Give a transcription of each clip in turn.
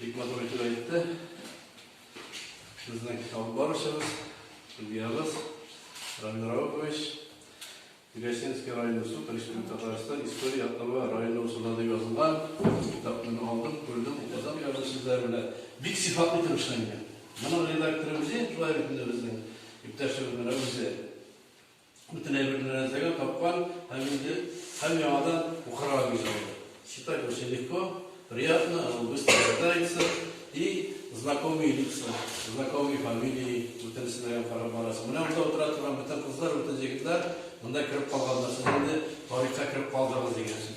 Бик матур итеп әйтте. Безнең китап барышыбыз, судьябыз Рамил Раукович, Гасинский районы суд, Республика Татарстан, история атнавы районы узында дип язылган. Китапны алдым, күрдем, укыдым язу сүзләре белән. Бик сыйфатлы итеп эшләнгән. Моның редакторы үзе, шулай бит инде безнең иптәшебез менә үзе. бөтенләй бер нәрсәгә тапкан һәм инде һәм яңадан укырга бирелде. Читать очень легко, приятно, оно быстро читается и знакомые лица, знакомые фамилии бөтенесенә генә карап барасың. Менә монда утыра торган бөтен кызлар, бөтен егетләр монда кереп калганнар. Сез инде тарихка кереп калдыгыз дигән сүз.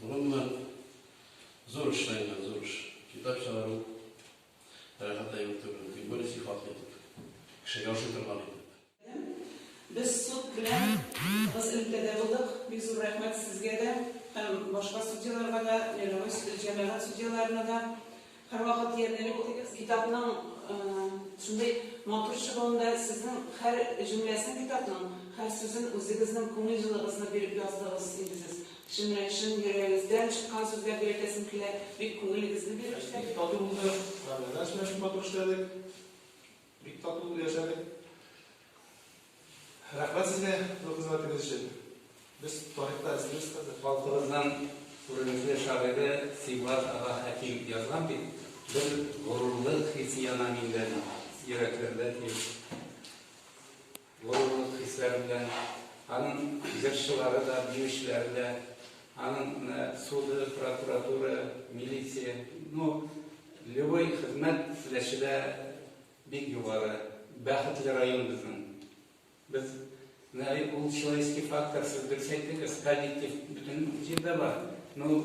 Бүгенне зур эшләнгән, зур эш. Китап чыгару рәхәт әйбер түгел. Тик более сыйфатлы итеп. Кешегә ошый торган итеп. Без суд белән тыгыз элемтәдә булдык. Бик зур рәхмәт сезгә дә һәм башка судьяларга да, мировой җәмәгать судьяларына да. Һәрвакыт диярлек китапның шундый матур чыгуында сезнең һәр җөмләсен китапның, һәр сүзен үзегезнең күңел җылыгызны биреп яздыгыз инде сез. Чын белән чын йөрәгегездән чыккан сүзләр дип әйтәсем килә, бик күңелегезне биреп эшләдегез. Бик тату булды, мәгънәдән сөйләшеп матур эшләдек. Бик тату булып яшәдек. Рәхмәт сезгә зур хезмәтегез өчен. Без тарихта эзлибез хәзер. Халкыбызның күренекле шагыйре Сибгат ага Хәким язган бит, бер горурлык хисе яна миндә, йөрәкләрдә тиеп. Горурлык хисләре белән аның җырчылары да, биючеләре дә, аның суды, прокуратура, милиция, ну, любой хезмәт теләче дә бик югары. Бәхетле район безнең. Без, менә ул человеческий фактор, сез дөрес әйттегез, коллектив бөтен җирдә бар. Ну,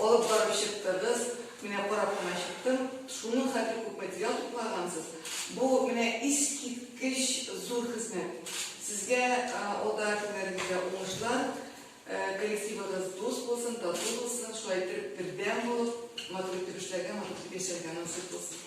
Алып барып чыктыгыз, менә карап кына чыктым, шуның хәтле күп материал туплагансыз. Бу менә искиткеч зур хезмәт. Сезгә алда көннәрегездә уңышлар, коллективыгыз дус булсын, тату булсын, шулай итеп бердәм булып, матур итеп эшләргә, матур итеп яшәргә насыйп булсын.